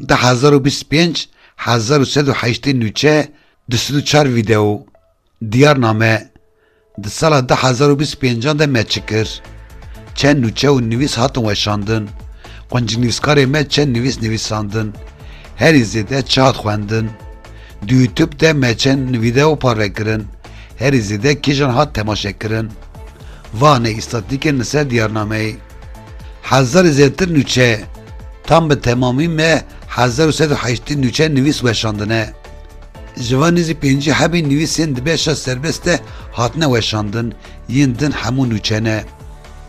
Di hezar û bîst û pênc hezar û sed û heştê nûçe du sed û çar vîdeo diyar name di sala du hezar û bîst û pêncan de me çi kir? Çend nûçe û nivîs hatin weşandin? Quncnivîskarê me çend nivîs nivîsandin? Herî zêde çi hat xwendin? Di YouTube de me çend vîdeo parve kirin? Herî zêde kîjan hat temaşekirin? Vanê îstatîkên li ser diyarnameyê hezarê zêdetir nûçe, tam bi temamî me hezar û sed û heştê nûçe nivîs weşandine. Ji van nêzî pêncî hebî nivîsên di beşa serbest de hatine weşandin, yên din hemû nûçe ne.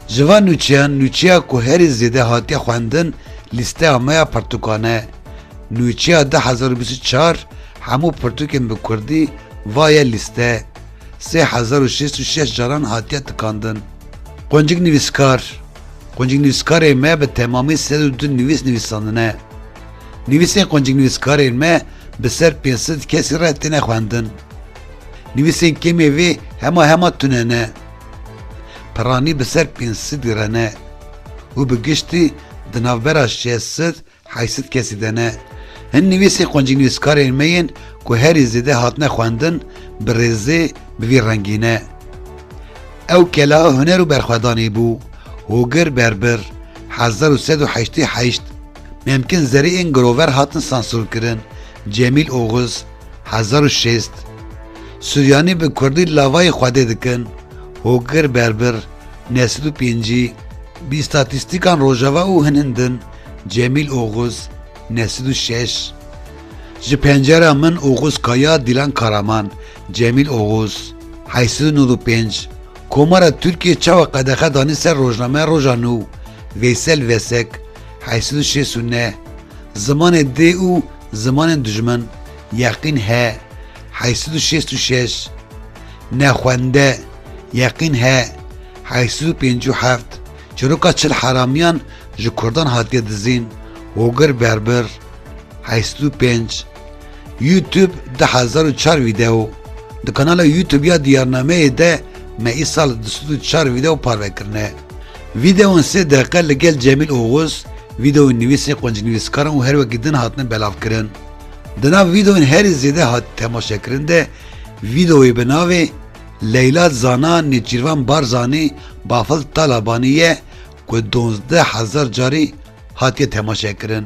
Ji van nûçeyan nûçeya ku herî zêde hatiye xwendin lîsteya me ya pirtûkan e. Nûçeya du hezar û bîst û çar, Hemû pirtûkên bi kurdî, va ye lîste. Sê hezar û şêst û şeş caran hatiye tikandin. Quncik nivîskar Quncik nivîskarên me bi temamî sed û du nivîs nivîsandine. Nivîsên quncik nivîskarên me bi ser pênc sed kesî re têne xwendin. Nivîsên kêmê vê hema hema tune ne. Piranî bi ser pênc sedî re ne û bi giştî di navbera şeş sed Hay sit kesî de ne. Hin nivîsên qoncînivîskarên me yên ku herî zêde hatine xwendin bi rêzê bi vî rengî ne. Ew kela huner û berxwedanê bû, Hogir Berbir, hezar û sed û heştê û heşt, Memkin Zerî ên girover hatin sansurkirin, Cemîl Oxuz, hezar û şêst, Suryanî bi kurdî lavayê xwedê dikin, Hogir Berbir, neh sed û pêncî, Bîstatîstîkan Rojava û hin hin din, Cemîl Oxuz, ne sed û şeş, Ji pencera min Oxuz Kaya Dîlan Karaman, Cemîl Oxuz, heyî sed û nod û pênc, Komara Tirkiyê çawa qedexe danî ser rojnameya Roja Nû, Veysel Vesek, heyî sed û şêst û neh, Zimanê dê û zimanên dijmin, Yeqîn He, heyî sed û şêst û şeş, Nexwende, Yeqîn He, heyî sed û pêncî û heft, Çîroka çil heramiyan ji kurdan hatiye dizîn, Hogir Berbir, heşt û pênc, YouTube du hezar û çar Vîdeo, Di kanala YouTube ya Diyarnameyê de me îsal du sed û çar vîdeo parve kirine. Vîdeon sê deqiqe li gel Cemîl Oxuz, vîdeoyên nivîsên quncinivîskaran û her wekî din hatine belavkirin. Di nav vîdeoyên herî zêde hatî temaşekirin de vîdeoyê bi navê, Leyla Zana Nêçîrvan Barzanî Bafil Talabanî ye ku dozdeh hezar carî hatiye temaşekirin.